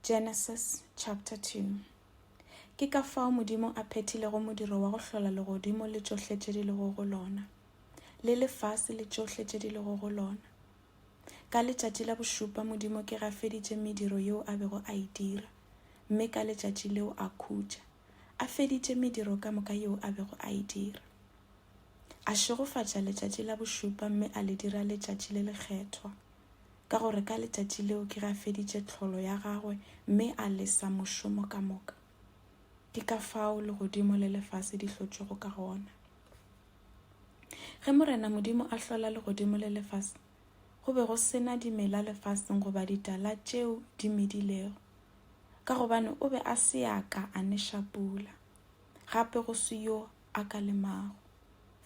Genesis chapter 2 Ke ka fao Modimo a phethilego modiro wa go hlola legodimo le tšohle tše di lego go lona, le lefase le tšohle tše di lego go lona. Ka letšatši la bošupa Modimo ke gafeditše mediro yeo a bego a e dira, mme ka letšatši leo a khutša, a feditše mediro ka moka yeo a bego a e dira. A šegofatša letšatši la bošupa mme a le dira letšatši le lekgethwa. ka gore ka letšatši leo ke ga feditše tlholo ya gagwe mme a lesa mošomo ka moka ke ka fao legodimo le lefase di hlotšwego ka gona ge morena modimo a hlola legodimo le lefase go be go sena dimela lefaseng goba ditala tšeo di medilego ka gobane o be a se ya ka a neša pula gape go se yo a ka lemago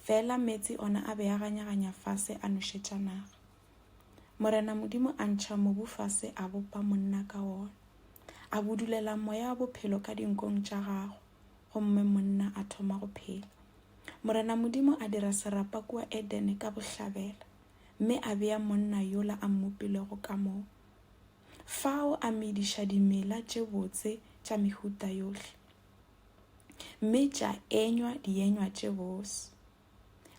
fela meetse ona a be a ganyaganya fase a nošetša naga Morena Modimo a ntšha mobu fase a bopa monna ka wona. A budulela moya wa bophelo ka dinkong tša gago, gomme monna a thoma go phela. Morena Modimo a dira serapa kua Edene ka bohlabela, mme a bea monna yola a mmopilego ka moo. Fao a mediša dimela tše botse tša mehuta yohle, mme tša enywa dienywa tše bose.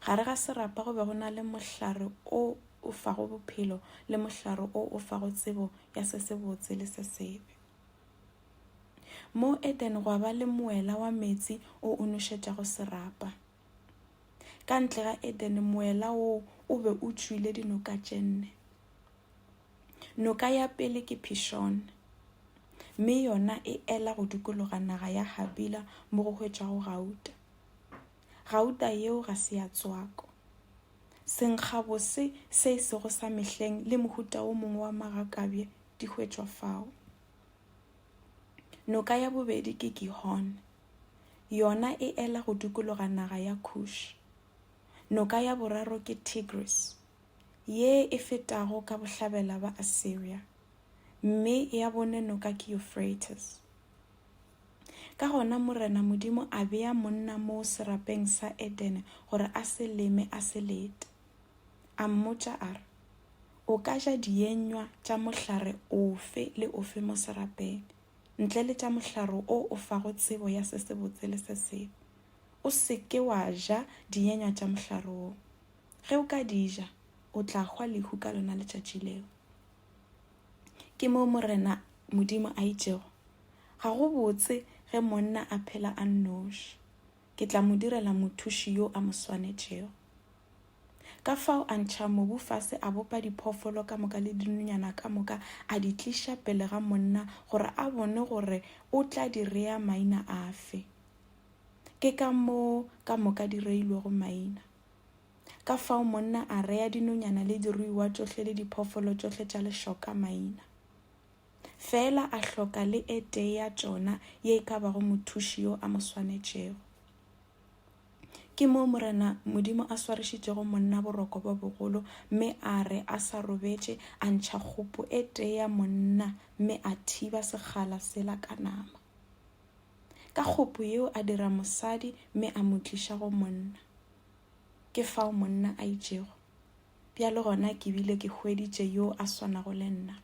Gare ga serapa go be go na le mohlare o o fago bophelo le mohlare o o fago tsebo ya se se botse le se sebe. Mo Eden gwa ba le moela wa meetse o o nošetšago serapa. Ka ntle ga Eden moela woo o be o tšwile dinoka tše nne. Noka ya pele ke Pishon, mme yona e ela go dukologa naga ya Habila mo go hwetšwago gauta. Gauta yeo ga se ya tswako. Senkgabose se e sego sa mehleng le mohuta wo mongwe wa magakabje di hwetšwa fao. Noka ya bobedi ke Gihon. Yona e ela go dukologa naga ya Kush. Noka ya boraro ke Tigris, ye e fetago ka bohlabela ba Assyria, mme ya bone noka ke Euphrates. Ka gona Morena Modimo a bea monna moo serapeng sa Edene gore a se leme a se lete. A mmotša a re, O ka ja dienywa tša mohlare ofe le ofe mo serapeng, ntle le tša mohlare o o fago tsebo ya se sebotse le se sebe. O se ke wa ja dienywa tša mohlare wo. Ge o ka di ja, o tla hwa lehu ka lona letšatši leo. ke moo morena modimo a itšego ga go botse ge monna a phela a nnoši ke tla mo direla mothuši yo a mo swanetšego ka fao a ntšha mobu fase a bopa diphoofolo ka moka le dinonyana ka moka a di tliša pele ga monna gore a bone gore o tla di rea maina afe ke ka moo ka moka di reilwego maina Ka fao monna a rea dinonyana le diruiwa tšohle le diphoofolo tšohle tša lešoka maina. Feela a hloka le e tee ya tšona ye e ka bago mothuši yo a mo swanetšego. Ke moo Morena Modimo a swarišitšego monna boroko bo bogolo mme a re a sa robetše a ntšha kgopo e tee ya monna mme a thiba sekgala sela ka nama. Ka kgopo yeo a dira mosadi mme a mo tliša go monna. ke fao monna a itšego bjale gona ke bile ke hweditše yo a swanago le nna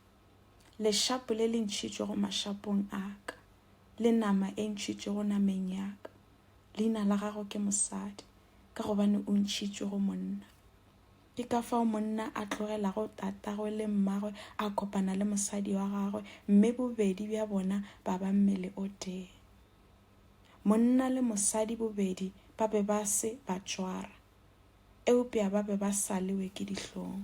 lešapo le le ntšhitšwego mašapong a ka le nama e ntšhitšwego nameng ya ka leina la gago ke mosadi ka gobane o ntšhitšwego monna ke ka fao monna a tlogelago tatagwe le mmagwe a kopana le mosadi wa gagwe mme bobedi bja bona ba ba mmele o tee Monna le mosadi bobedi ba be ba se ba tšwara, eupša ba be ba saliwe ke dihlong.